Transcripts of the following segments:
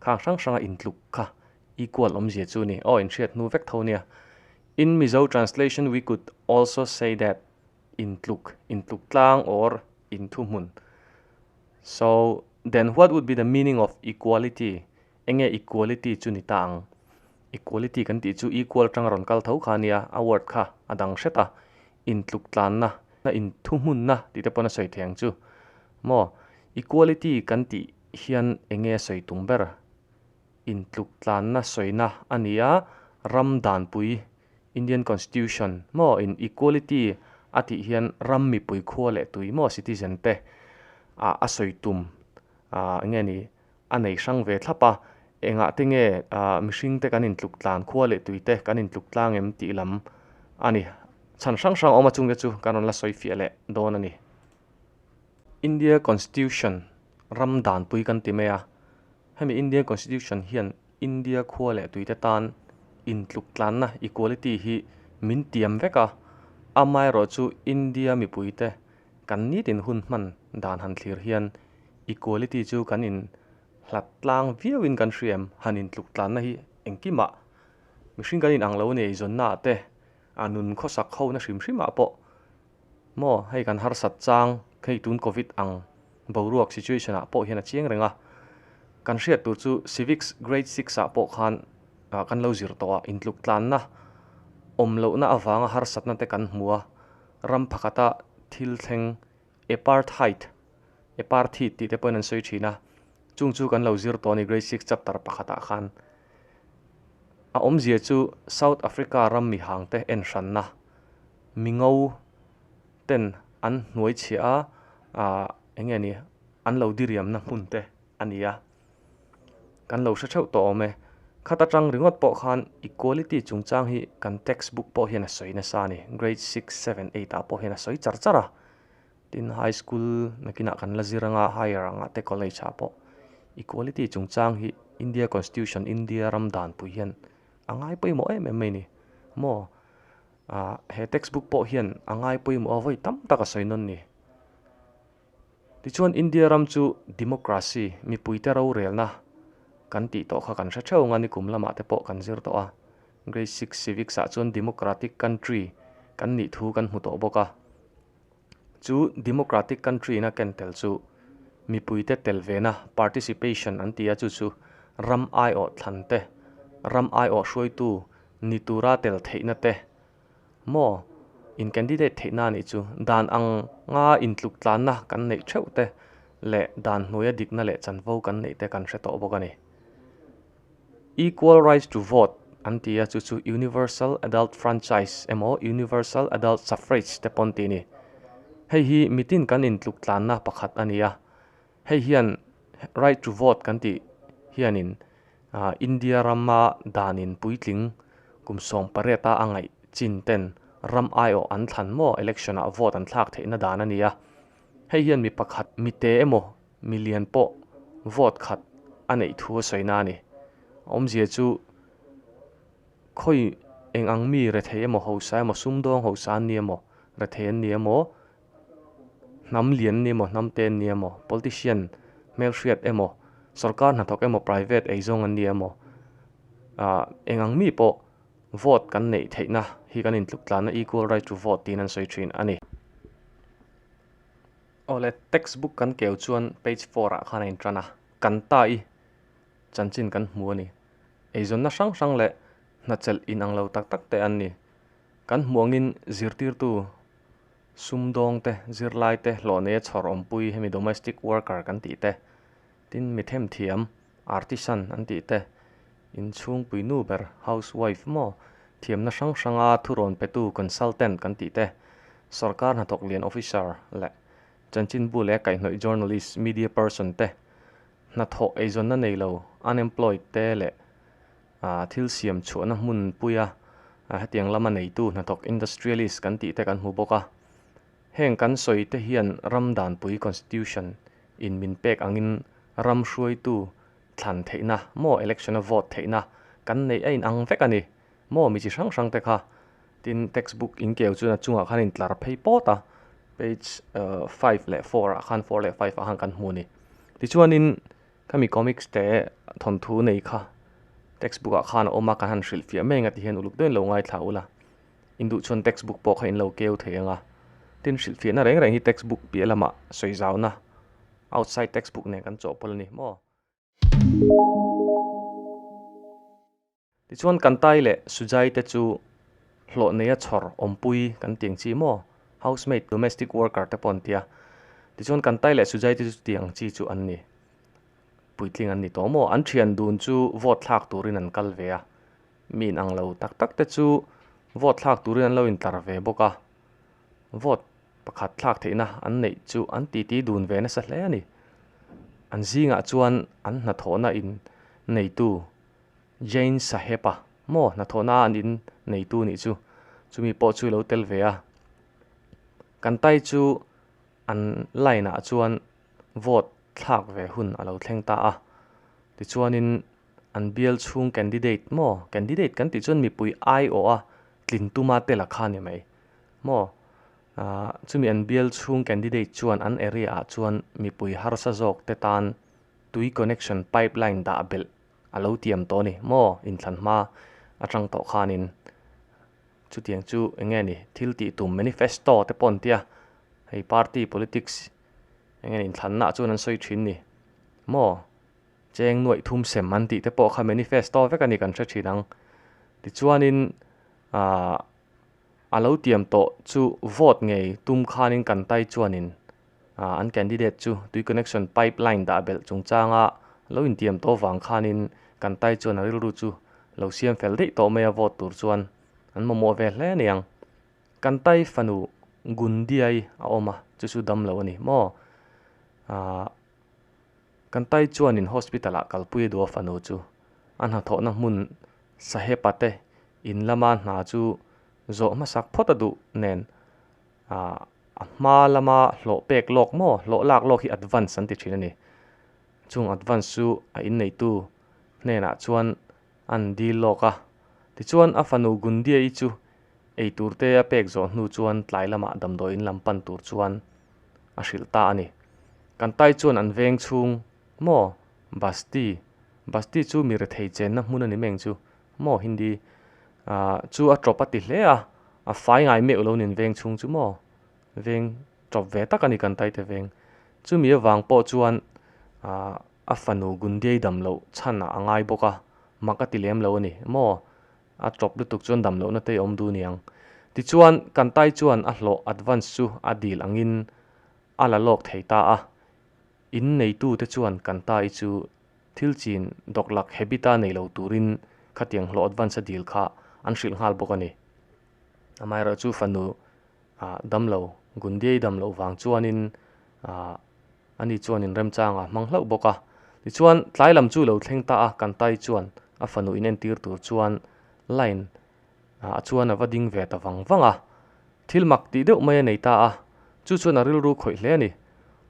khang hrang hranga intluk kha equal awmzia chu ni aw inhriat hnu vek tho nia in Mizo translation we could also say that intluk intluk tlang or inthu hmun so then what would be the meaning of equality enge equality chu ni ta ang equality kan tih chu equal atanga rawn kal tho kha nia a word kha a dang hret a intluk tlan na na inthu hmun na tih te pawh na sawi thei ang chu maw equality kan tih hian enge sawi tum ber? Intluk tlanna sawina a ni a, ram danpui, Indian Constitution, maw in equality a tih hian ram mipui khua leh tui maw citizen te ah a sawi tum ah nge ni a nei hrang ve thlap a, engah te nge ah mihring te kan intluk tlan khua leh tui te kan intluk tlang em tih lam a ni chhan hrang hrang a awm a chunge chu kan rawn la sawi fiah leh dawn a ni. India Constitution ram danpui kan ti mai a, hemi Indian Constitution hian India khua leh tuite tan intluktlanna, equality, hi min tiam vek a, amaherawh chu India mipuite kan nitin hun hman dan han thlir hian equality chu kan in hlatlang viauin kan hria em? Han intluktlanna hi engkimah mihring kan inang lo nei zawnnaah te, a nun khawsak hona hrim hrimah pawh Maw, hei kan harsat chang hei tun Covid ang boruak situation ah pawh hian a chiang reng a, kan hriat tur chu Civics Grade Six ah pawh khan kan lo zir tawh a, intluk tlanna awm lohna avanga harsatna te kan hmu a, ram pakhata thil thleng Apartheid, Eparthid, tih te pawhin an sawi thin a, chung chu kan lo zir tawh a ni Grade Six chapter pakhat ah khan. A awmzia chu South Africa ram mihangte enhranna. mingo ten an hnuai chhia a ah eng nge ni an lo diriamna hmun te a ni a kan lo hre theuh tawh awm e khat atang ringawt pawh khan equality chung chang hi kan text book pawh hian a sawi nasa a ni grade six seven eight ah pawh hian a sawi char char a tin high school nakin ah kan la zir anga higher ang ah te college ah pawh equality chung chang hi india constitution india ram dan pui hian a ngai pawimawh em em mai a ni maw. Aah he textbook pawh hian a ngai pawimawh a vawi tam tak a sawi nawn ni. Tichuan India ram chu democracy, mipuite rorelna kan tih tawh kha kan hre theuh ang a, nikum lamah te pawh kan zir tawh a. Grade six civics ah chuan democratic country kan nih thu kan hmu tawh bawk a. Chu democratic country ina ken tel chu mipui te tel ve na participation an ti a chu chu ram aiawh thlan te ram aiawh hruaitu ni tura tel theih na te maw in candidate theih na nih chu dan ang nga in tluk tlan na kan neih theuh te leh dan hnuaia dik na leh chanvo kan neih te kan hre tawh bawk a ni. Equal rights to vote an ti a, chu chu universal adult franchise emaw universal adult suffrage te pawh an tih a ni. Hei hi mitin kan intluktlanna pakhat a ni a. Hei hian right to vote kan tih hianin India rama danin puitling kum sawm pareta a ngaih chin ten ram aiawh an thlan maw election ah vote an thlak theihna dan a ni a. Hei hian mi pakhat mite emaw mi lian pawh vote khat a neih thu a sawi na a ni. A awmzia chu khawi eng ang mi rethei emaw hausa emaw sumdawng hausa an nia emaw rethei an nia emaw hnam lian an nia emaw hnam te an nia emaw politician hmelhriat emaw sorkar hnathawk emaw private ei zawng an nia emaw ah eng ang mi pawh vote kan neih theihna hi kan intluk tlanna equal right to vote tiin an sawi thin a ni. Aw le, text book kan keu chuan page four ah khan a in tan a, kan ta i chanchin kan hmu a ni. Eizawnna hrang hrang leh hnachelh in ang lo tak tak te an ni. Kan hmu angin zirtirtu sumdawng te, zirlai te, hlawhnei a chhawr awmpui hemi domestic worker kan tih te, Tin, mi them thiam, artisan an tih te, inchhungpui nu ber, housewife emaw, thiamna hrang hranga thurawn petu, consultant, kan tih te, sawrkar hnathawk lian officer leh chanchin bu leh kaihnawih journalist, media person te, hnathawh eizawnna nei lo, unemployed, te leh thil siam chhuahna hmun puia hetiang lama neitu, hnathawk industrialist, kan tih te kan hmu bawk a. Heng kan sawi te hian ram danpui, constitution, in min pek angin ram hruaitu thlan theihna maw election a vote theihna kan neih a in ang vek a ni maw mi chi hrang hrang te kha tin text book in keu chuan a chungah khan a intlar phei pawt a page five leh four ah khan four leh five ah khan kan hmu a ni tichuanin khami comics te thawnthu nei kha text book ah khan a awm a kan han hrilh fiah mai ang a ti hian uluk daih lo ngaithla ula. induhchhawn textbook pawh kha in lo keu thei ang a, tin hrilhfiahna reng reng hi textbook piah lamah sawi zauhna outside textbook nen kan chawhpawlh a ni maw? Tichuan Kantai leh Sujai te chu hlawh neia chhawr awmpui kan ti ang chi maw? Housemaid, domestic worker te pawh an tia, tichuan Kantai leh Sujai te chu chutiang ang chi chu an ni. Puitling an ni tawh maw? An thian dun chu vote thlak turin an kal ve a, Mi in ang lo tak tak te chu vote thlak turin an lo in tlar ve bawk a, vote pakhat thlak theih na an neih chu an ti ti dun ve nasa hle a ni. An zing ah chuan an hnathawh na in nei tu Jain Saheb a maw hnathawh na an in nei tu nih chu, chu mi pawh chu i lo tel ve a. Kan tai chu an line ah chuan vote thlak ve hun a lo thleng ta a, ti chuan in an bial chhung candidate maw candidate kan tih chuan mipui aiawh a tlin tuma te la kha ni mai maw ah chumi an bial chhung candidate chuan an area ah chuan mipui harsa zawk te tan tui connection pipe line dah belh a lo tiam tawh a ni maw inthlan hma atang tawh khanin chutiang chu eng nge ni thil tih tum manifesto te pawh an tia hei party politics eng nge ni inthlan na ah chuan an sawi thin ni maw. Cheng nuaih thum sem an tih te pawh kha manifesto vek a ni kan hre thin ang. Tichuanin aah a lo tiam tawh chu vote ngei tum khanin kan tai chuanin aah an candidate chu tui connection pipe line dah belh chungchanga lo intiam tawh vang khanin kan tai chuan a rilru chu lo siam fel daih tawh mai a vote tur chuan an mamawh ve hle ni ang. Kan tai fanu Gundiai a awm a chu chu damlo a ni maw aah Kan Tai chuanin hospital-ah kalpui a du a fanu chu. A hnathawhna hmun Sahepa te in lama hna chu zawh hmasak phawt a duh nen ah a hma lama hlawh pek lawk maw, hlawh lak lawk hi advance an ti thin a ni. Chung advance chu a inneitu hnenah chuan. An dil lawk a. Tichuan a fanu Gundia-i chu eitur te a pek zawh hnu chuan tlai lamah damdawi in lam pan tur chuan a hrilh ta a ni. Kan tai chuan an veng chhung maw Basti, Basti chu mi rethei chenna hmun a ni meng chu maw Hindi ah chu a tawp a ti hle a, a fai ngai meuh lo nen veng chhung chu maw veng tawp ve tak a ni kan tai te veng. Chumi avang pawh chuan ah. A fanu Gundiai dam loh chhan ah a ngai bawk a, mak a ti lem lo a ni maw? A tawp lutuk chuan dam lohna te i awm duh niang. Tichuan, Kantai chuan a hlawh advance chu a dil angin a la lawk thei ta a. In neitu te chuan Kantai chu thil chin dawk lak habit a nei lo turin khatiang hlawh advance a dil kha an hrilh nghal bawk a ni. Amaherawhchu fanu ah dam lo, Gundia i dam loh vang chuanin ah ani chuan in remchang a hmang hlauh bawk a. Tichuan tlai lam chu lo thleng ta a, Kantai chuan a fanu in entir tur chuan line ah chuan a va ding ve ta vang vang a. Thil mak tih deuh mai a nei ta a, chu chuan a rilru khawih hle a ni.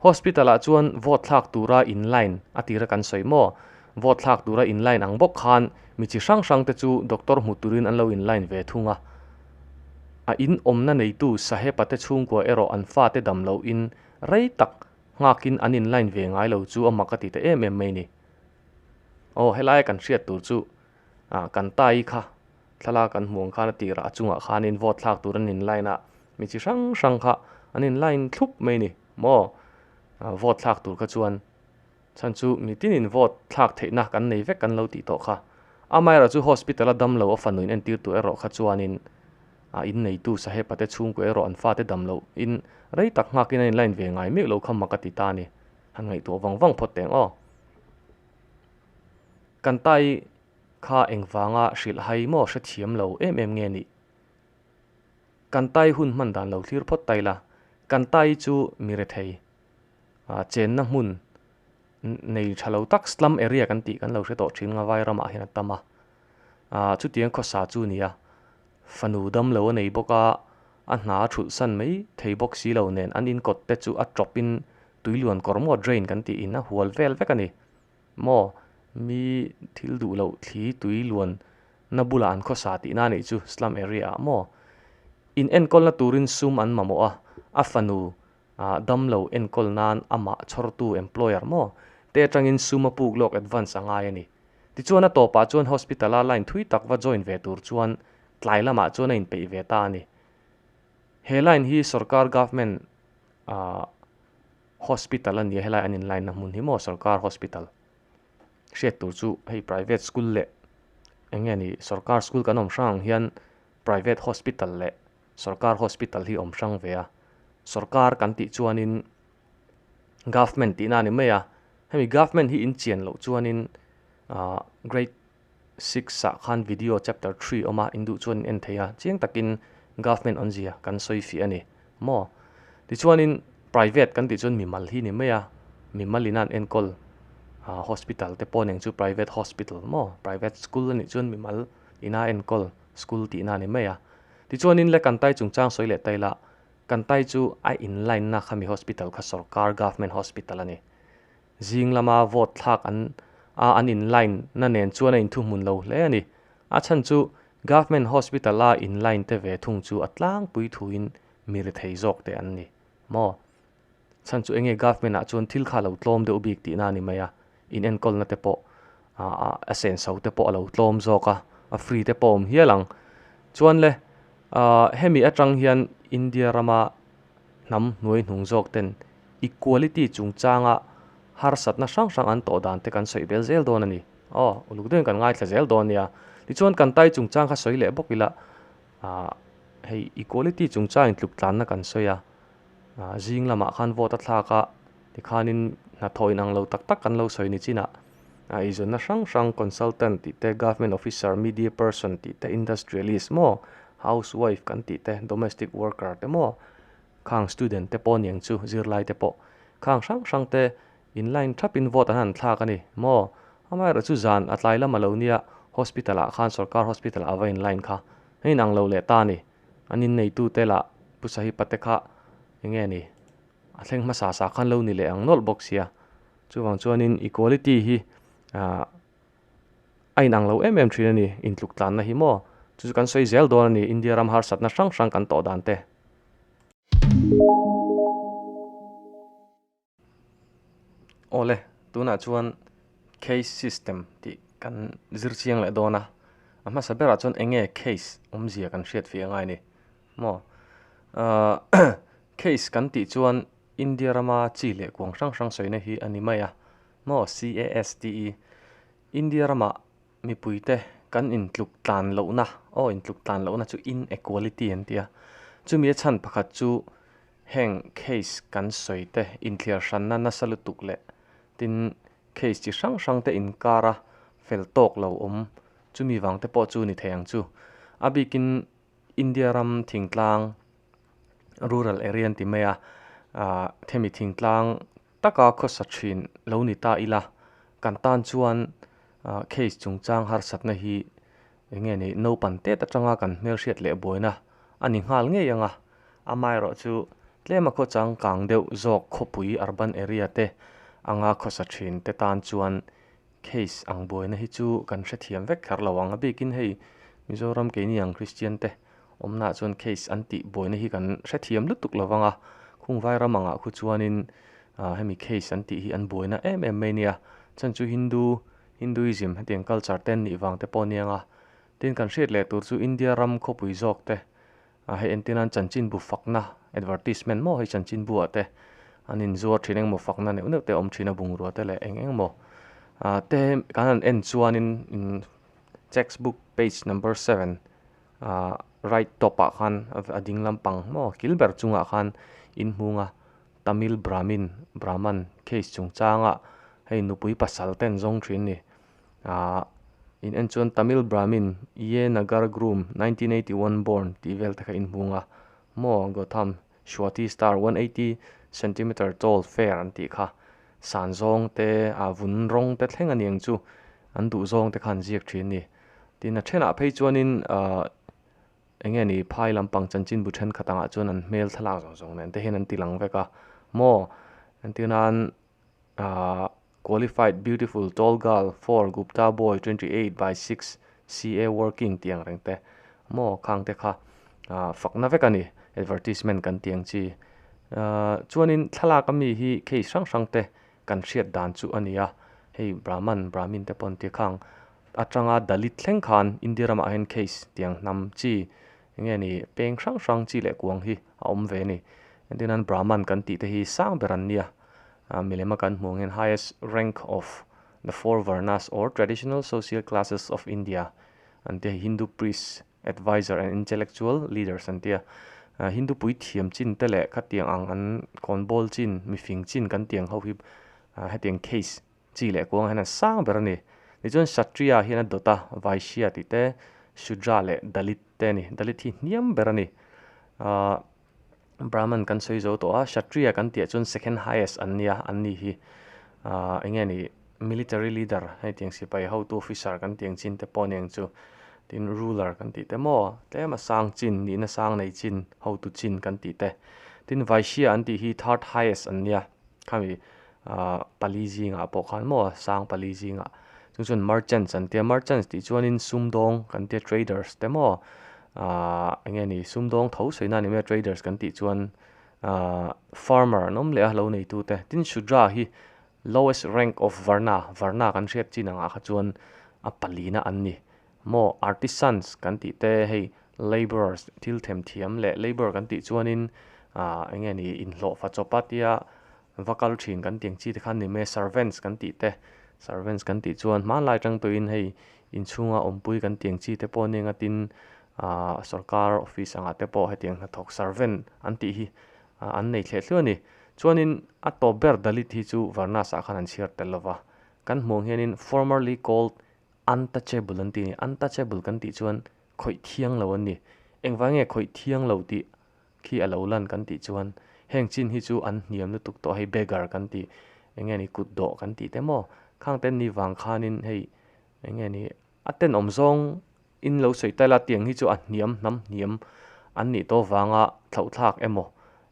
Hospital ah chuan vote thlak tura in line a tira kan sawi maw? Vote thlak tura in line ang bawk khan mi chi hrang hrang te chu doctor hmu turin an lo in line ve thung a. A in awmna neitu Sahepa te chhungkua erawh an fa te dam lo in rei tak nghak in an in line ve ngai lo chu a mak a ti ta em em mai ni. Aw helai a kan hriat tur chu Ah, kan pa i kha thlalak kan hmuh ang khan a tirah a chungah khanin vote thlak tur an inline a, mi chi hrang hrang kha an inline thlup mai ni maw? Ah, vote thlak tur kha chuan chhan chu mi tinin vote thlak theihna kan nei vek kan lo tih tawh kha. Amaherawh chu hospital a damlo a fanuin entir tur erawh kha chuanin a inneitu Sahepa te chhungkua erawh an fate damlo in rei tak nghakin an inline ve ngai mek lo kha mak a ti ta a ni. Han ngaihtuah vang vang phawt teh ang aw. Kantai kha engvanga hrilhhai maw hrethiam lo em em nge ni? Kantai hun hman dan lo thlir phawt ta ila, Kantai chu mi rethei chenna hmun nei tha lo tak slum area kan tih kan lo hre tawh thin nga vai ramah hian a tam a, chutiang khawsa chu nia fanu dam lo a nei bawk a, a hna a ṭhulh san mai thei bawk si lo nen an inkawtte chu a ṭawpin tui luan kawr maw drain kan tih in a hual vel vek a ni. Maw mi thil duh loh thli tui luan na bulah an khawsa tih na nih chu slum area ah maw? In enkawl na turin sum an mamawh a, a fanu ah dam lo enkawl nan a mah chhawr tu employer maw? Te atangin sum a puk lawk advance a ngai a ni. Tichuan a tawpah chuan hospital a line thui tak va join ve tur chuan tlai lamah chuan a in peih ve ta a ni. He line hi sorkar government ah. Hospital a nia helai an in line na hmun hi maw sorkar hospital hriat tur chu hei private school leh eng nge ni sorkar school kan awm hrang ang hian private hospital leh sorkar hospital hi awm hrang ve a sorkar kan tih chuan in government tihna a ni mai a hemi government hi in chian loh chuan in ahh great-- Six ah khan video chapter three awm a, induh chuan in en thei a, chiang takin government awn zia kan sawi fiah a ni maw? Tichuanin private kan tih chuan mimal hi ni mai a, mimal ina an enkawl ah hospital te pawh nen chu private hospital maw? Private school a nih chuan mimal ina enkawl school tihna ni mai a, tichuanin le kan tai chungchang sawi leh ta ila, kan tai chu a in line na kha mi hospital kha sawrkar government hospital a ni, Zing lama vote thlak an a an in line na nen chuan a in thu hmun lo hle a ni. A chhan chu Government Hospital a in line te ve thung chu a tlangpui thuin mi ri thei zawk te an ni maw? Chhan chu enge Government ah chuan thil kha a lo tlawm deuh bik tihna a ni mai a, in enkawl na te pawh a sen so te pawh a lo tlawm zawk a, a free te pawh a awm hial ang. Chuan le hemi atang hian India rama. hnam hnuai hnung zawk ten equality chungchanga harsatna hrang hrang an tawh dan te kan sawi bel zel dawn a ni. Aw, uluk deuhin kan ngaithla zel dawn nia. Tichuan kan tai chungchang kha sawi leh bawk ila ah hei equality chungchangin tluk tlanna kan sawi a, zing lamah khan vote a thlak a. Tikhanin hnathawh inang lo tak tak kan lo sawi ni chinah, a eizawnna hrang hrang, consultant tih te, government officer, media person tih te, industrialist maw, housewife kan tih te, domestic worker te maw, khang student te pawh a ni ang chu, zirlai te pawh. Khang hrang hrang te in line thapin vote an han thlak a ni maw? Amaherawh chu zan a tlai lam a lo nia, hospital ah khan, sorkar hospital ah a va in line kha, a inang lo leh ta a ni. An inneitute lah pusahipa te kha enge a ni? A thleng hmasa sa khan lo ni leh ang nawlh bawk sia. Chuvang chuanin equality hi a inang lo em em thin a ni, intluk tlanna hi maw? Chu chu kan sawi zel dawn a ni, India ram harsatna hrang hrang kan tawh dan te. Aw le, tunah chuan caste system tih kan zir chiang leh dawn a, a hmasa berah chuan eng nge caste awmzia kan hriat fih a ngai a ni? Maw? Aah, case kan tih chuan India rama chi leh kuang hrang hrang sawina hi a ni mai a. Maw CASTE, India rama mipuite kan intluk tlan lohna, aw intluk tlan lohna chu inequality an tia. Chumi a chhan pakhat chu heng case kan sawi te, inthiar hranna nasa lutuk leh tin case chi hrang hrang te inkara fel tawk lo awm chumi vang te pawh chu ni thei ang chu. A bikin. India ram thingtlang, rural area an ti mai a, hemi thingtlang taka khawsa thin lo ni ta ila, kan tan chuan case chungchang harsatna hi eng nge ni naupan têt atanga kan hmelhriat leh buaina a ni nghal ngei ang a, amaherawh chu tlema khaw changkang deuh zawk khawpui urban area te anga khawsa thin te tan chuan. Case ang buaina hi chu kan hrethiam vek tlar lo ang a bikin hei Mizoram keini ang Christian te awmnaah chuan case an tih buaina hi kan hrethiam lutuk lo vang a, khung Vairam angah khu chuanin hemi case an tih hi an buaina em em mai nia, chhan chu Hindu, Hinduism, hetiang culture te an nih vang te pawh aniang a, tin kan hriat leh tur chu India ram khawpui zawk te A hei entir nan chanchinbu fakna advertisement maw hei chanchinbu ah te an in zuar thin engmaw fakna neuh neuh te awm thin a bungrua te leh eng eng maw ah te kan han en chuanin in text book page number seven ah right top ah khan a ding lampang maw kil ber chungah khan in hmung a tamil brahmin brahman case chungchanga hei nupui pasal ten zawng thin a ni. Ahh in en chuan Tamil Brahmin Iye Nagar Groom, nineteen eighty one born tih vel te kha in hmung a, maw Gautham Swathi star, one eighty centimetre tall fair an tih kha. San zawng te, a vun rawng te thleng a ni ang chu, an duh zawng te kha an ziak thin ni. Tin a thenah phei chuanin ahh eng nge ni phai lampang chanchin bu thenkhat angah chuan an hmel thlalak zawng zawng nen te hian an ti lang vek a, maw? An ti nan ahh Qualified beautiful tall girl four Gupta boy twenty eight by six CA working tih ang reng te maw khang te kha fakna vek a ni advertisement kan ti ang chi chuanin thlalak a mi hi case hrang hrang te kan hriat dan chu a ni a hei brahman brahmin te pawn te khang atanga dalit thleng khan India ramah hian case tih ang hnam chi Enge ni, peng hrang hrang chi leh kuang hi a awm ve ni? Entinan Brahman kan tih te hi sang ber an nia? Milema kan hmuh ang hian highest rank of the four varnas or traditional social classes of India an tia, Hindu priests, advisers and intellectual leaders an tia. Hindu puithiam chin te leh khatiang ang an kawnbawl chin, mifing chin kan ti ang ho hi hetiang case. Chi leh kuang hian an sang ber a ni. Tichuan Kshatriya hian a dawt a, Vaishya tih te, Shudra leh Dalit te a ni. Dalit hi hniam ber a ni. Aah Brahman kan sawi zo tawh a, Kshatriya kan tih ah chuan second highest an nia, an nih hi. Aah enge ni military leader hei tiang sipai hotu officer kan tih ang chin te pawh a ni ang chu. Tin ruler kan tih te maw, tlem a sang chin, nihna sang nei chin, hotu chin kan tih te. Tin Vaishya an tih hi third highest an nia. Khami Ahh pali zingah pawh khan maw sang pali zingah chu chuan merchants an tia merchants tih chuanin sumdawng kan tia traders te maw ahh eng nge ni sumdawng tho sawinan nih mai a traders kan tih chuan ahh farmer an awm leh a lo neitu te tin shudra hi lowest rank of varna varna kan hriat chin ang ah kha chuan a palina an ni maw artisans kan tih te hei labourers thil themthiam leh labour kan tih chuanin ahh eng nge ni inhlawhfa chawpa tia. Va kal thin kan ti ang chi te khan ni mai, servants kan tih te, servants kan tih chuan hmanlai atang tawhin hei inchhunga awmpui kan ti ang chi te pawh hnenga tin aah sorkar office angah te pawh hetiang hnathawk servant an tih hi an nei thleh thliau a ni. Chuanin a tawp ber Dalit hi chu Varnas ah khan an chhiar tel lo va, kan hmuh ang hianin formerly called untouchable an ti a ni, untouchable kan tih chuan khawih thiang lo an ni. Engvang nge khawih thiang lo tih khi a lo lan kan tih chuan heng chin hi chu an hniam lutuk tawh hei beggar kan tih eng nge ni kut dawh kan tih te maw khang ten ni vang khanin hei eng nge ni a ten awm zawng in lo sawi ta ila tiang hi chu a hniam hnam hniam an nih tawh vanga thlauhthlak emaw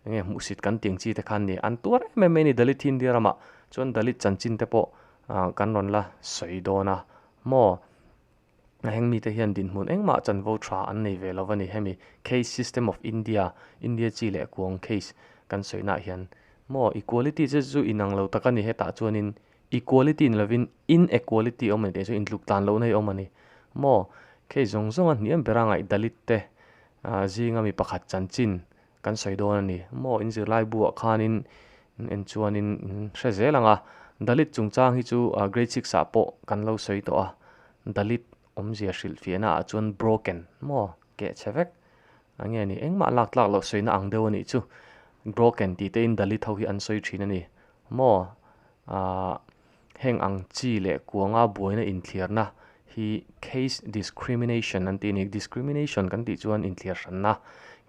eng nge hmuhsit kan tiang chi te khan ni an tuar em em mai a ni dalit hi india ramah chuan dalit chanchin te pawh kan rawn la sawi dawn a maw. A heng mite hian dinhmun engmah chanvo tha an nei ve lo a ni. Hemi Caste System of India, India chi leh kuang caste, kan sawihnah hian maw equality che chu inang lo tak a ni. Hetah chuanin equality ni lovin inequality awm a ni tih chu intluk tlan lohna hi awm a ni maw. Case zawng zawnga hniam bera ngai Dalit te, zinga mi pakhat chanchin, Kan sawi dawn a ni. Maw in zirlai buah khanin en chuanin in hre zel ang a, Dalit chungchang hi chu Grade six ah pawh kan lo sawi tawh a, Dalit awmzia hrilh fiahna ah chuan broken maw keh che vek a nge ni? Engmah lak tlak loh sawina ang deuh a nih chu, broken tih tein Dalit ho hi an sawi thin a ni. Maw? Aah Heng ang chi leh kuanga buaina inthliarna hi case discrimination an tih a ni. Discrimination kan tih chuan inthliar hranna,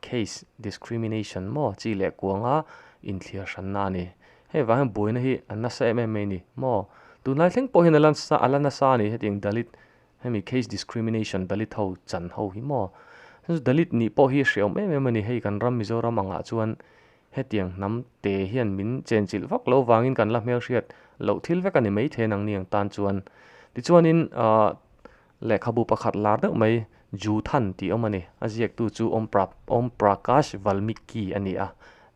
case discrimination maw chi leh kuanga inthliar hranna a ni. Hei vang hian buaina hi a nasa em em mai a ni maw? Tunlai thleng pawh hian a la a la nasa a ni hetiang Dalit hemi case discrimination Dalit ho chan ho hi maw? Dalit nih pawh hi a hriaum em em a ni. Hei kan ram Mizoram angah chuan Hetiang hnam te hian min chenchilh vak lo vangin kan la hmelhriat loh thil vek a ni maithei nang ni ang tan chuan. Tichuanin aah lehkhabu pakhat lar deuh mai Juthan tih awm a ni, a ziaktu chu Om Pra Om Prakash Valmiki a ni a,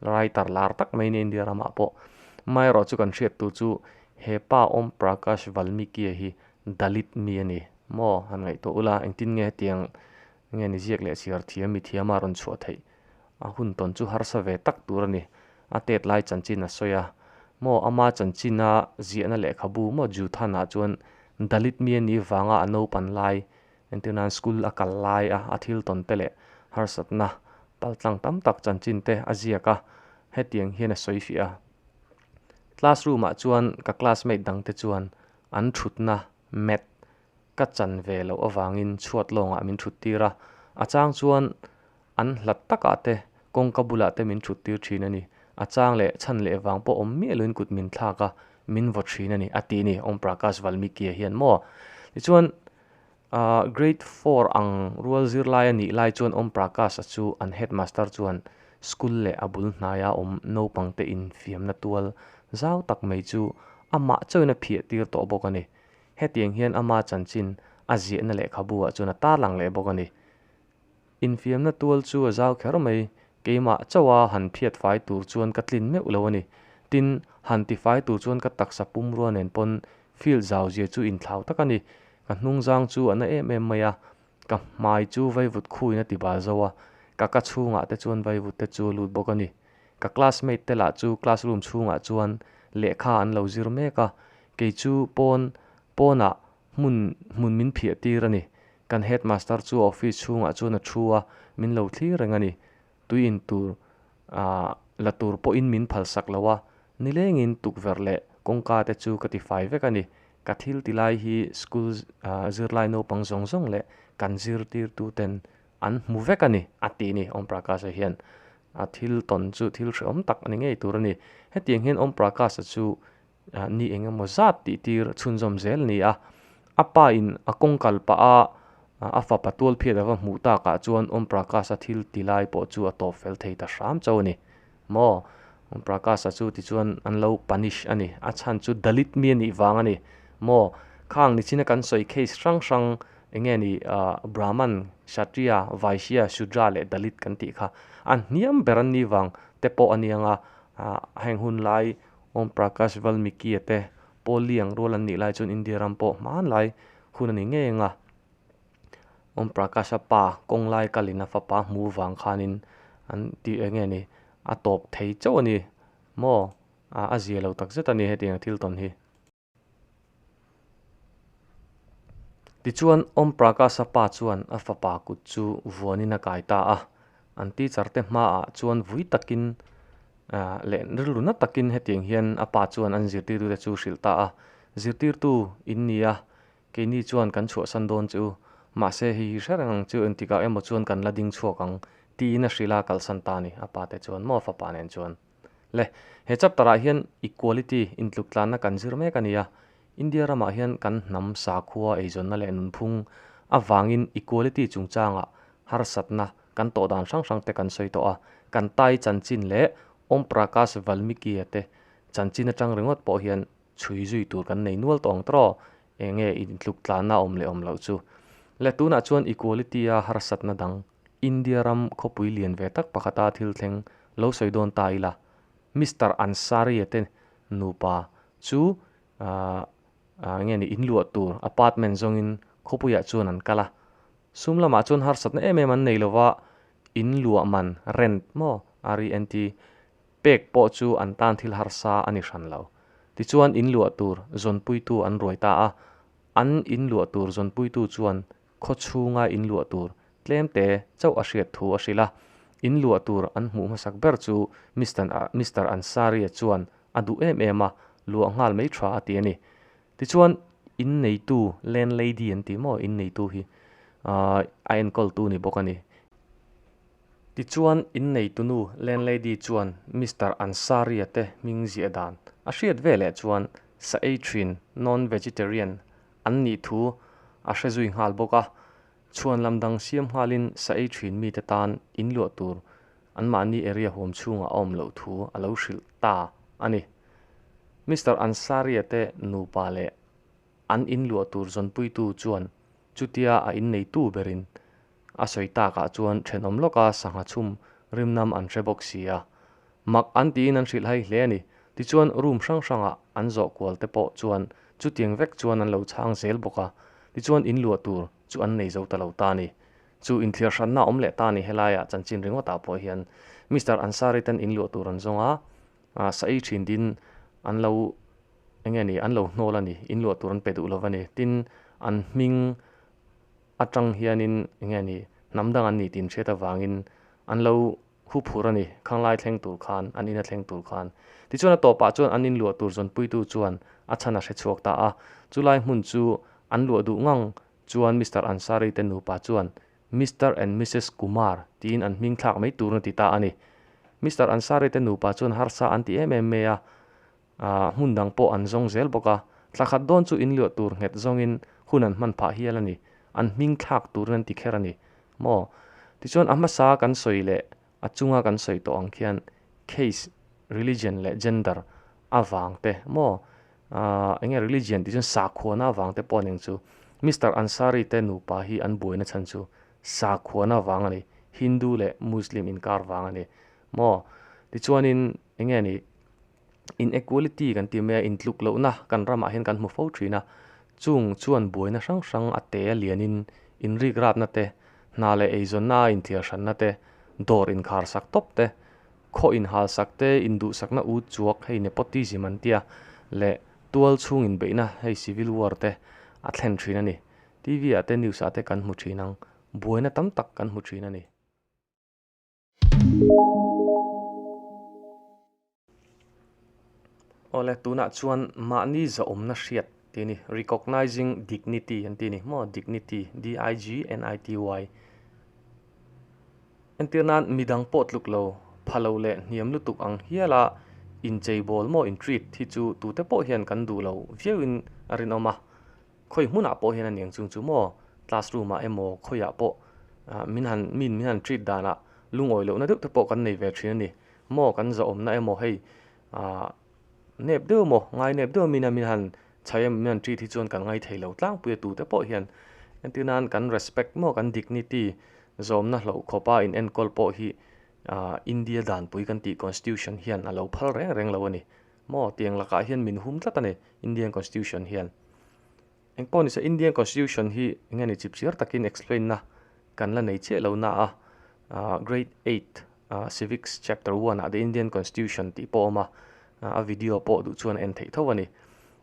writer lar tak mai a ni a India ramah pawh. Amaherawh chu kan hriattu chu he pa Om Prakash Valmiki-a hi Dalit mi a ni maw? Han ngaihtuah ula, engtin nge hetiang nge ni ziak leh chhiar thiam mi thiama a rawn chhuah theih A hun tawn chu harsa ve tak tur a ni. A tet lai chanchin a sawi a. Maw ama chanchina ziahna lehkhabu maw Juthanah chuan Dalit mi a nih vanga a naupan lai entir nan school a kal lai a, a thil tawn te leh harsatna paltlang tam tak chanchin te a ziak a, hetiang hian a sawi fiah a, Classroom ah chuan ka classmate dangte chuan an thutna, Math, Ka chan ve loh avangin chhuat lawngah min thut tir a, a chang chuan an hlat takah te, kawngka bulah te min thut tir thin a ni. A chang leh chhan leh vang pawh awm miah loin kut min thlak a, min vaw thin a ni, a ti a ni Om Prakash Valmikia hian maw. Tichuan, Grade four ang rual zirlai a nih lai chuan Om Prakasha chu an Headmaster chuan school leh a bul hnaia awm naupangte infiamna tual zau tak mai chu amah chawina phiah tir tawh bawk a ni. Hetiang hian ama chanchin a ziahna lehkhabu ah chuan a tar lang leh bawk a ni. Infiamna tual chu a zau kher mai, keimah chauh a han phiat fai tur chuan ka tlin meuh lo a ni. Tin, han ti fai tur chuan ka taksa pum rua nen pawn field zau zia chu inthlau tak a ni. Ka hnungzang chu a na em em mai a, Ka hmai chu vaivut khuin a ti bal zo a, ka ka chhungah te chuan vaivut te chu a lut bawk a ni. Ka classmate te lah chu classroom chhungah chuan lehkha an lo zir mek a, kei chu pawn pawnah hmun hmun min phiah tir a ni. Kan headmaster chu office chhungah chuan a thu a, min lo thlir reng a ni. tui in tur ah la tur pawhin min phalsak lo a, nilengin tukverh leh kawngka te chu ka ti fai vek a ni. Ka thil ti lai hi school ah zirlai naupang zawng zawng leh kan zirtirtu ten an hmu vek a ni, a ti a ni Om Prakash-a hian. A thil tawn chu thil hrehawm tak a ni ngei tur a ni. Hetiang hian Om Prakash-a chu. Ni eng emaw zat tih tir a chhunzawm zel a ni a. A pa in a kawng kal pah a, a fapa tualphiat ava hmuh tak ah chuan Om Prakash a thil ti lai pawh chu a tawp fel thei ta hram chauh a ni. Maw? Om Prakash a chu tichuan an lo punish a ni. A chhan chu Dalit mi a nih vang a ni. Maw? Khang nichin a kan sawi case hrang hrang eng nge ni ahh Brahman, Kshatriya, Vaishya, Shudra leh Dalit kan tih kha a hniam ber an ni vang te pawh a niang a. Ahh heng hunlai Om Prakash Valmikie te Paul Lee ang rual an nih lai chuan India ram pawh hmanlai hun a ni ngei ang a. Om Prakasha pa Konglai Kalina fapa hmu vang khanin an tih eng nge ni a tawp thei chauh a ni maw? A zia lo takzet a ni hetianga thil tawn hi. Tichuan, Om Prakasha pa chuan a fapa kut chu vuanin a kai ta a. An teacher te hmaah chuan vui takin leh rilru na takin hetiang hian a pa chuan an zirtirtu te chu hrilh ta a. Zirtirtu in ni a, keini chuan kan chhuahsan dawn che u, mahse hei hi hre reng ang che u engtikah emaw chuan kan la ding chhuak ang, tiin a hrilh a, kalsan ta a ni, a pa te chuan maw a fapa nen chuan. le he chapter ah hian equality intluktlanna kan zir mek a ni a, India ramah hian kan hnam sakhua eizawnna leh nunphung avangin equality chungchangah harsatna kan tawh dan hrang hrangte kan sawi tawh a, kan Tai chanchin leh Om Prakash Valmikia te chanchin atang ringawt pawh hian chhui zui tur kan nei nual tawh ang trawh eng nge intluktlanna awm leh awm loh chu le tunah chuan equality a harsatna dang India ram khawpui lian ve tak pakhata thil thleng lo sawi dawn ta ila, Mister Ansari-a te nupa chu aah aah nge ni in luah tur apartment zawngin khawpuiah chuan an kal a, sum lamah chuan harsatna em em an nei lo va, in luah man, rent maw, RENT, pek pawh chu an tan thil harsa a ni hran lo. Tichuan in luah tur zawnpuitu an ruai ta a, an in luah tur zawnpuitu chuan khaw chhunga in luah tur tlemte chauh a hriat thu a hrilh a. In luah tur an hmuh hmasak ber chu Mister a Mister Ansari-a chuan a duh em em a, luah nghal mai tha a ti a ni. Tichuan, in neitu, landlady an tih maw in neitu hi, aaa a enkawl tu ni bawk a ni. Tichuan, in neitunu, landlady, chuan Mister Ansari-a te hming ziah dan a hriat veleh chuan sa ei thin, non-vegetarian, an nih thu a hre zui nghal bawk a, chhuan lam dang siam nghalin sa ei thin mite tan in luah tur anmahni area hum chhungah a awm loh thu a lo hrilh ta a ni. Mister Ansaria te nupa leh an in luah tur zawnpuitu chuan chutia a innei tu berin A sawi takah chuan thenawm lawka sangha chhum rimnam an hre bawk sia. Mak an tiin an hrilh hai hle a ni. Tichuan room hrang hrangah an zawh kual te pawh chuan chutiang vek chuan an lo chhang zel bawk a, tichuan in luah tur chu an nei zo ta lo ta a ni. Chu inthiar hranna awm leh ta a ni. Helaiah chanchin ringawtah pawh hian Mister Ansari ten in luah tur an zawng a, sa ei thin din an lo eng nge ni, an lo hnawl a ni, in luah tur an pe duh lo va ni. Tin, an hming Atang hianin enge ni, hnam dang an ni tih inhriat avangin an lo hu phur a ni, Khanglai thleng tur khan, an ina thleng tur khan. Tichuan a tawpah chuan an inluah tur zawnpuitu chuan a chhan a hre chhuak ta a, chulai hmun chu an luah duh ngang chuan Mister Ansari te nupa chuan Mister and Missus Kumar tiin an hmingthlak mai turna ti ta a ni. Mister Ansari te nupa chuan harsa an ti em em mai a, Ahh, hmun dang pawh an zawng zel bawk a, tla khat dawn chu in luah tur nghet zawngin hun an hman phah hial a ni, an hming thlak turin an ti kher a ni maw? Tichuan a hmasa kan sawi leh a chunga kan sawi tawh ang khian case, religion leh gender avang te maw? Ahh, enge religion tih chuan sakhuana avang te pawh a ning chu. Mister Ansari te nupa hi an buaina chhan chu sakhuana avang a ni, Hindu leh Muslim inkar vang a ni maw? Tichuanin enge a ni, inequality kan tih mai a intluk lohna kan ramah hian kan hmu fo thin a chung chuan buaina hrang hrang a te a lian in in rikrapna te hna leh eizawnna a inthiar hranna te dawr inkhar sak tawp te khaw inhal sak te induhsakna ut chuak hei nepotism an tia leh tual chhung inbeihna hei civil war te a thlen thin a ni T V ah te news ah te kan hmu thin ang buaina tam tak kan hmu thin a ni. Aw le, tunah chuan mahni zahawmna hriat tih a ni, recognizing dignity an tih a ni maw, dignity, D-I-G-N-I-T-Y. Entir nan midang pawh tluk lo, pha lo leh hniam lutuk ang hiala incheibawl maw, in treat, hi chu tute pawh hian kan duh lo viau in a rinawm a. Khawi hmunah pawh hian a niang chung chu maw? Classroom ah emaw khawiah pawh min han min min han treat danah lungawi lohna deuh te pawh kan nei ve thin a ni. Maw kan zahawmna emaw hei ah nep deuh maw ngai nep deuh min a min han chhai em min han treat hi chuan kan ngaithei lo tlangpui a tute pawh hian engtin a kan respect maw kan dignity zawmna hlauhkhawpa in enkawl pawh hi ah India danpui kan tih constitution hian a lo phal reng reng lo a ni. Maw tiang lakah hian min hum tlat a ni Indian Constitution hian. Engpawh ni se Indian Constitution hi eng nge ni chip chiar takin explain na kan la nei chiah lo na a, aah grade eight aah civics chapter one ah the Indian Constitution tih pawh a awm a, a video pawh duh chuan a en theih tho a ni.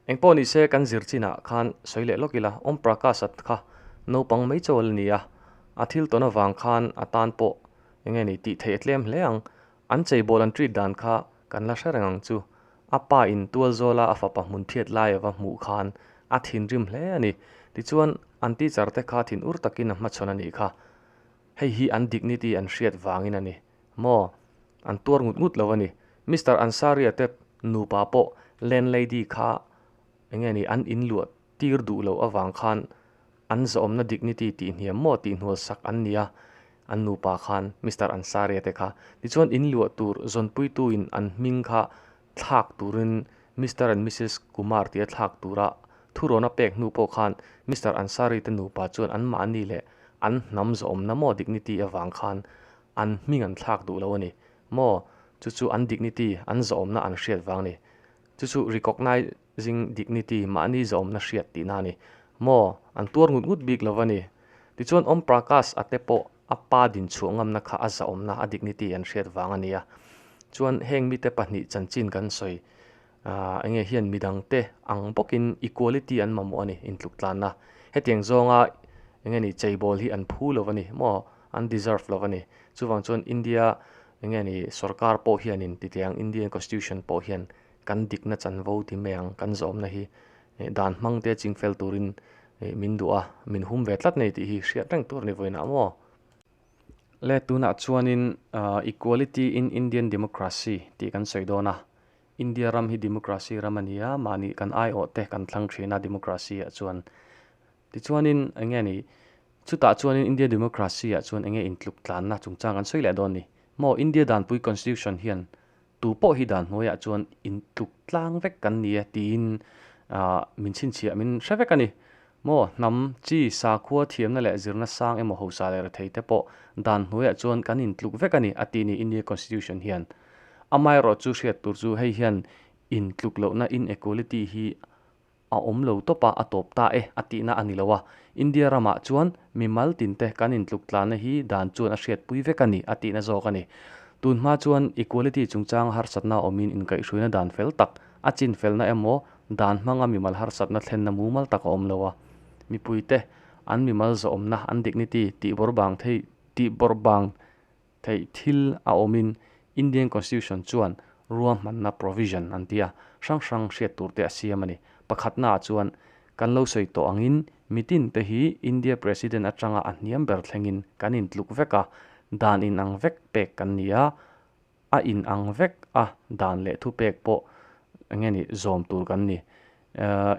Engpawh ni se kan zir chin ah khan sawi leh lawk ila Om Prakash at kha naupang mai chawl a ni a, a thil tawn avang khan a tan pawh eng nge ni tih theih a tlem hle ang. An cheibawl an treat dan kha kan la hre reng ang chu. A pa in tual zawla a fapa hmun thiat lai a va hmuh khan a thinrim hle a ni. Tichuan an teacher te kha thin ur takin a hmachhawn a nih kha. Hei hi an dignity an hriat vangin a ni. Maw? An tuar ngut ngut lo a ni. Mister Ansari-a tep nupa pawh landlady kha enge ni an inluat Tir duh loh avang khan an zawhawmna dignity tih hniam maw tih hnual sak an ni a, an nupa khan Mister Ansari-a te kha. Tichuan in luah tur zawnpuituin an hming kha thlak turin Mister and Missus Kumar tia thlak tura thuroun a pek hnu pawh khan Mister Ansari te nupa chuan anmahni leh an hnam zawhawmna maw dignity avang khan an hming an thlak duh lo a ni maw chu chu an dignity an zawhawmna an hriat vang a ni chu chu recognise Zing dignity mahni zawmna hriat tihna a ni. Maw? An tuar ngut ngut bik lo a ni. Tichuan Om Prakash ate pawh a pa dinchhuah ngamna kha a zawmna, a dignity an hriat vang a nia. Chuan heng mite pahnih chanchin kan sawi, aah enge hian midangte ang bawkin equality an mamawh a ni intluktlanna. Hetiang zawnga enge ni cheibawl hi an phu lo a ni maw? An deserve lo a ni. Chuvang chuan India enge ni sorkar pawh hianin titiang Indian Constitution pawh hian Kan dikna chanvo ti mai ang kan zawmna hi dan hmang te ching fel turin min duh a, min hum ve tlat nei tih hi hriat reng tur ni vawi nâ maw? Le tunah chuanin equality in Indian democracy tih kan sawi dawn a, India ram hi democracy ram a ni a, mahni kan aiawh te kan thlang ṭhin a democracy ah chuan. Tichuanin eng nge ni, chutah chuanin India democracy ah chuan eng nge intluk tlanna chungchang kan sawi leh dawn ni? Maw India danpui constitution hian Tu pawh hi dan hnuaiah chuan in tluk tlang vek kan ni e tiin min chhinchhiah min hre vek a ni. Maw hnam, chi, sakhua thiamna leh zirna sang emaw hausa leh rethei te pawh dan hnuaiah chuan kan in tluk vek a ni, a ti ni India Constitution hian. Amaherawhchu hriat tur chu hei hian in tluk lohna inequality hi a awm lo tawp a a tawp ta e a tihna a ni lo a, India ramah chuan mimal tin te kan intluktlanna hi dan chuan a hriatpui vek a ni a tihna zawk a ni. Tun hma chuan equality chungchanga harsatna awmin inkaihhruina dan fel tak, a chinfelna emaw dan hmanga mimal harsatna thlenna mumal tak a awm lo a, mipuite an mimal zawhawmna an dignity tihbawrbang thei tihbawrbang Theih thil a awmin Indian Constitution chuan ruahmanna provision an tia hrang hrang hriat turte a siam a ni. Pakhatnaah chuan, kan lo sawi tawh angin mitin te hi India President atanga a hniam ber thlengin kan intluk vek a, dan in ang vek pek kan ni a, a in ang vek a dan leh thu pek pawh enge ni zawm tur kan ni.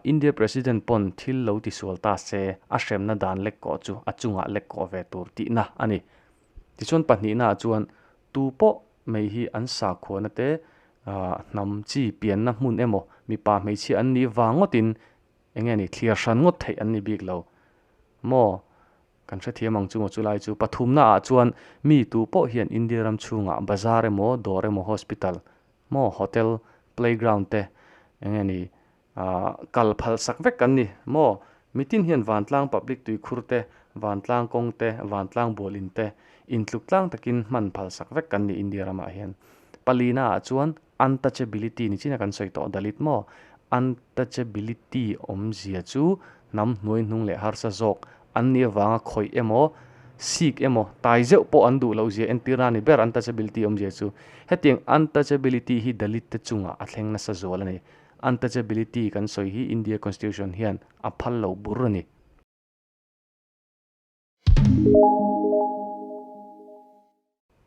India President pawn thil lo ti sual ta se a hremna dan lekkaw chu a chungah lekkaw ve tur tihna a ni. Tichuan pahnihnaah chuan tu pawh mai hi an sa khuana te, hnam chi pianna hmun emaw, mipa hmeichhia an nih vang ngawtin eng nge ni thlir hran ngawt theih an ni bik lo maw? Kan hrethiam ang chu maw chulai chu. Pathumnaah chuan mi tu pawh hian India ram chhungah bazar emaw, dawr emaw, hospital maw, hotel, playground te eng nge ni Ahh kal phal sak vek an ni maw? Mitin hian vantlang public tuikhur te, vantlang kawng te, vantlang bual in te intluk tlang takin hman phal sak vek kan ni India ramah hian. Palina ah chuan untouchability ni chin a kan sawi tawh Dalit maw? Untouchability awmzia chu hnam hnuai hnung leh harsa zawk an nih avanga khawih emaw, sik emaw, tai zeuh pawh an duh loh zia entir na ni ber untouchability awmzia chu. Hetiang untouchability hi Dalit te chungah a thleng nasa zual a ni. Untouchability kan sawi hi India Constitution hian a phal loh bur a ni.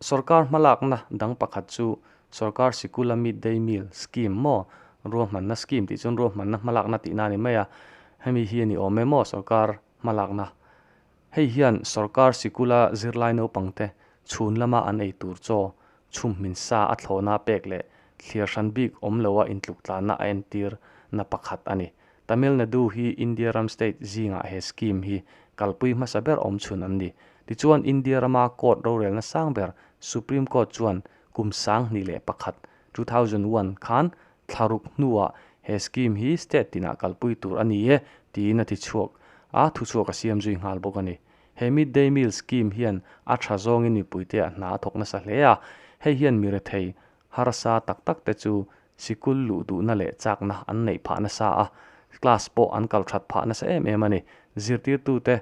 Sorkar hmalakna dang pakhat chu Sorkar Sikula Mid Day Meal Scheme maw, Ruahmanna Scheme tih chuan ruahmanna hmalakna tihna a ni mai a, hemi hi a ni awm em aw, Sorkar hmalakna Hei hian sorkar sikula zirlai naupangte chhun lama an ei tur chaw chhum hminsa a thlawna pek leh thlir hran bik awm loa intluktlanna a entir na pakhat a ni. Tamil Nadu hi India ram state zingah he scheme hi kalpui hmasa ber awm chhun an ni. Tichuan India rama court rorelna sang ber Supreme Court chuan kum sang hnih leh pakhat, two thousand one, khan thlaruk hnuah he scheme hi state tinah kalpui tur a ni e tiin a ti chhuak a, thu chhuak a siam zui nghal bawk a ni. He mid day meal scheme hian a tha zawngin mipuite a hna a thawk nasa hle a, hei hian mi rethei harsa tak tak te chu sikul luh duhna leh chakna an neih phah nasa a, class pawh an kal that phah nasa em em a ni. Zirtirtute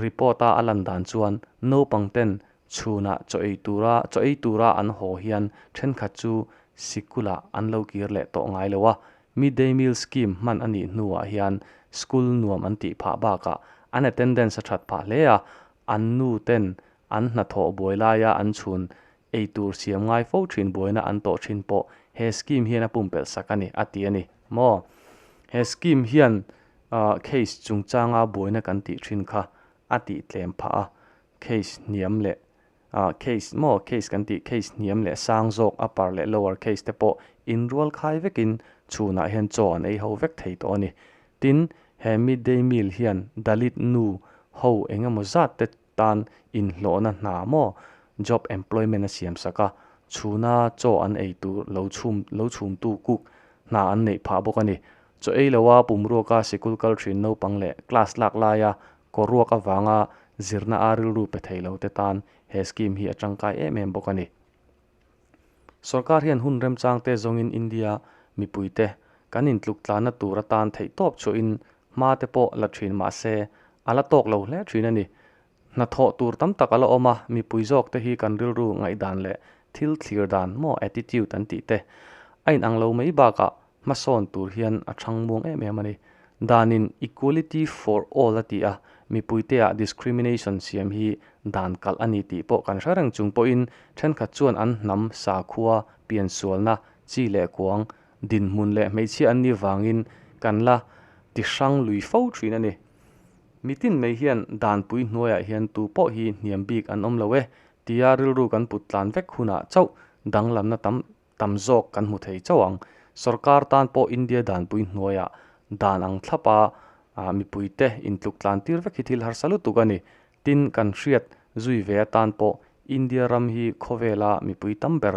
report a a lan dan chuan naupangten Chhunah chaw ei tura chaw ei tura an haw hian thenkhat chu sikula an lo kir leh tawh ngai lo a, Mid Day Meal Scheme hman a nih hnuah hian school nuam an tih phah bakah an attendance a that phah hle a, an nu ten an hnathawh buai laia an chhun ei tur siam ngai fo thin buaina an tawh thin pawh he scheme hian a pumpelh sak a ni, a ti a ni maw? He scheme hian case chungchanga buaina kan tih thin kha a tihtlem phah a, Case hniam leh ah case maw case kan tih case hniam leh sang zawk upper leh lower case te pawh in rual khai vekin chhunah hian chaw an ei ho vek thei tawh a ni. Tin, he mid day meal hian Dalit nu ho engemaw zat te tan inhlawhna hna maw job employment a siam sak a, chhuna chaw an ei tur lo chhum lo chhumtu cook hna an neih phah bawk a ni. Chaw ei lo a, pum ruaka sikul kal thin naupang leh class lak laia kaw ruak avanga zirna a rilru pe thei lo te tan he scheme hi a tangkai em em bawk a ni. Sorkar hian hun remchang te zawngin India mipui te kan intluk tlanna tur atan theihtawp chuahin hma te pawh la thin mahse a la tawk lo hle thin a ni. Hnathawh tur tam tak a la awm a, mipui zawkte hi kan rilru ngaihdan leh thil thlir dan maw attitude an tih te a inang lo mai bakah hmasawn tur hian a chhang muang em em a ni. Danin equality for all a ti a, mipuiteah discrimination siam hi dan kalh a ni tih pawh kan hre reng chung pawhin thenkhat chuan an hnam, sakhua, piansualna, chi leh kuang, dinhmun leh hmeichhia anni vangin kan la tihrang lui fo thin a ni. Nitin mai hian danpui hnuaiah hian tu pawh hi hniam bik an awm lo e tia rilru kan put tlan vek hunah chauh danglamna tam tam zawk kan hmu thei chauh ang. Sorkar tan pawh India danpui hnuaiah dan ang thlap a, mipuite intluk tlan tir vek hi thil harsa lutuk a ni. Tin, kan hriat zui ve atan pawh India ram hi khawvela mipui tam ber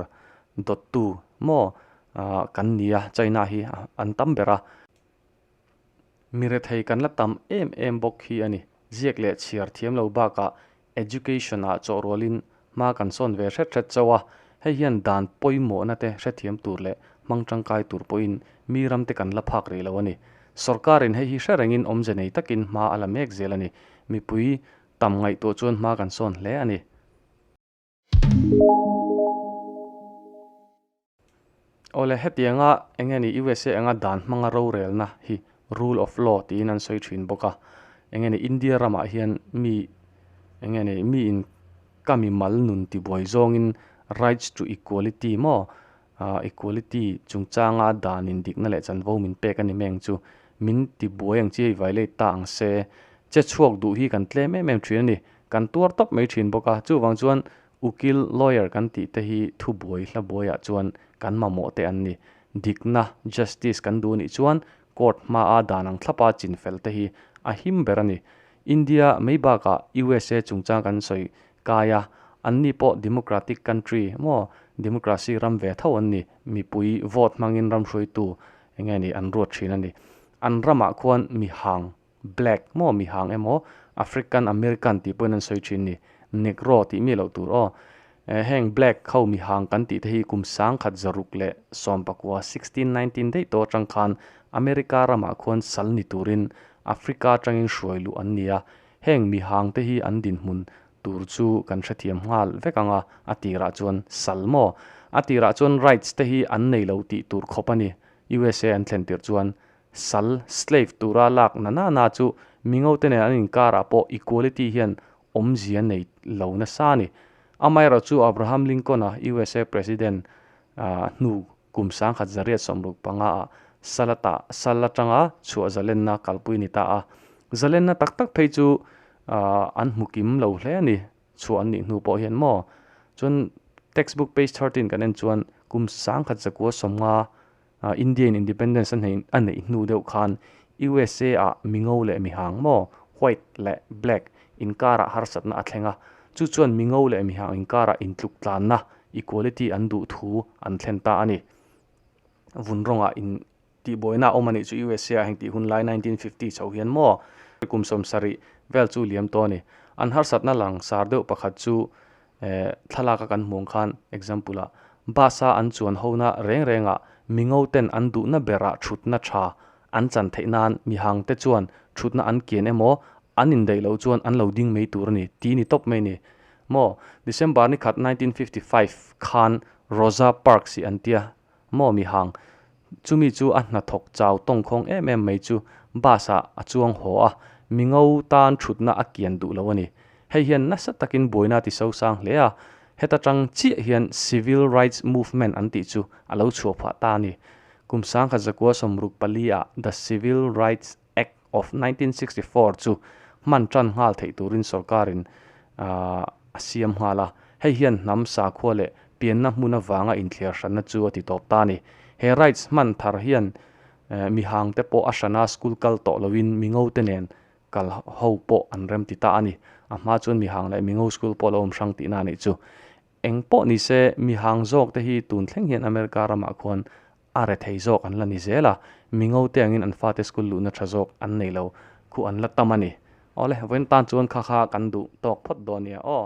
dawttu maw kan ni a, China hi an tam ber a. mi rethei kan la tam em em bawk hi a ni. Ziak leh chhiar thiam lo bakah education ah chawhrualin hma kan sawn ve hret hret chauh a, hei hian dan pawimawhna te hrethiam tur leh hmang tangkai tur pawhin mi ram te kan la phak rih lo a ni. Sorkar in hei hi hre rengin awmze nei takin hma a la mek zel a ni. Mipui tam ngaihtuah chuan hma kan sawn hle a ni. Awle, hetianga enge ni usa anga dan hmanga rorelna hi rule of law tiin an sawi thin bawk a, enge ni India ramah hian mi enge ni miin ka mimal nun tibuai zawngin rights to equality maw, Equality chungchanga dan indikna leh chanvo min pek a ni meng chu min ti buai ang chiai violate ta ang se. Che chhuak duh hi kan tlem em em thin a ni. Kan tuar tawp mai thin bawk a. Chuvang chuan Ukil, Lawyer, kan tih te hi thubuai hla buai ah chuan kan mamawh te an ni. Dikna, Justice, kan duh a nih chuan Court hmaa dan ang thlapa chin fel te hi a him ber a ni. India mei bakah usa chungchang kan sawi kai a, anni pawh democratic country emaw democracy ram ve tho an ni, mipui vote hmangin ram hruaitu enge nih an ruat thin a ni. An ramah khuan mi hang Black maw mihang emaw African American tih pawhin an sawi thin ni, Negro tih mi loh tur aw. Eh heng Black kho mihang kan tih te hi kum sangkhat zaruk leh sawmpakua sixteen nineteen daihtaw atang khan America ramah khuan sal ni turin Africa atangin hruai luh an ni a, heng mihang te hi an dinhmun tur chu kan hrethiam nghal vek ang a, a tirah chuan sal maw a tirah chuan rights te hi an nei lo tih tur khawp a ni, usa an thlen tirh chuan Sal, slave, tura lak na na na chu Mingote nen an inkar ah pawh equality hian awmzia nei lo nasa a ni. Amaherawh chu Abraham Lincoln a usa President hnu kum sangkhat zariat sawmruk panga ah sal a tah sal atanga chhuah zalenna kalpui ni ta a. Zalenna tak tak phei chu an hmu kim lo hle a ni chhuah an nih hnu pawh hian maw. Chuan textbook page thirteen kan en chuan kum sangkhat zakua sawmnga Indian Independence a neih hnu deuh khan USA-a mingo leh mihang maw, white leh black, inkarah harsatna a thleng a, chu chuan mingo leh mihang inkarah intluktlanna, equality, an duh thu an thlen ta a ni. Vun rawnga in tihbuaina a awm a nih chu USA-a heng tih hun lai nineteen fifty chho hian maw? Kum sawmsarih vel chu liam tawh a ni. An harsatna langsar deuh pakhat chu eh, thlalaka kan hmuang khan example ah bus a an chuan ho na reng renga mingo ten an duh na ber ah thut na tha an chan theih nan mi hang te chuan thut na an kian emaw an in daih lo chuan an lo ding mai tur ani ti ni tawp mai ni maw December ni khat nineteen fifty five khan Rosa Parks i an tia Maw mi hang, chumi chu a hnathawk chau tawngkhawng em em mai chu bus ah a chuang haw a, mingo tan thutna a kian duh lo a ni. Hei hian nasa takin buaina ti sosang hle a, heta tang chiah hian civil rights movement an tih chu a lo chhuah phah ta a ni. Kum sangkhat zakua sawmruk pali ah The Civil Rights. Act of nineteen sixty four chu hman tan nghal theih turin sorkarin a siam nghal a, hei hian hnam sakhua leh pianna hmun avanga inthlir hranna chu a ti tawp ta a ni. He rights hman thar hian mi hangte pawh a hran a, school kal tawh loin mingo te nen kal ho pawh an rem ti ta a ni. A hma chuan mi hang leh mingo school pawh a lo awm hrang tihna a nih chu. Eng pawh nise mi hang zawkte hi tun thleng hian America ramah khuan a re thei zawk an la ni zel a, mi ngo te angin an fate school luhna tha zawk an nei lo, khu an la tam a ni. Awle vawiin tan chuan kha kha kan duh tawk phawt dawn nia aw.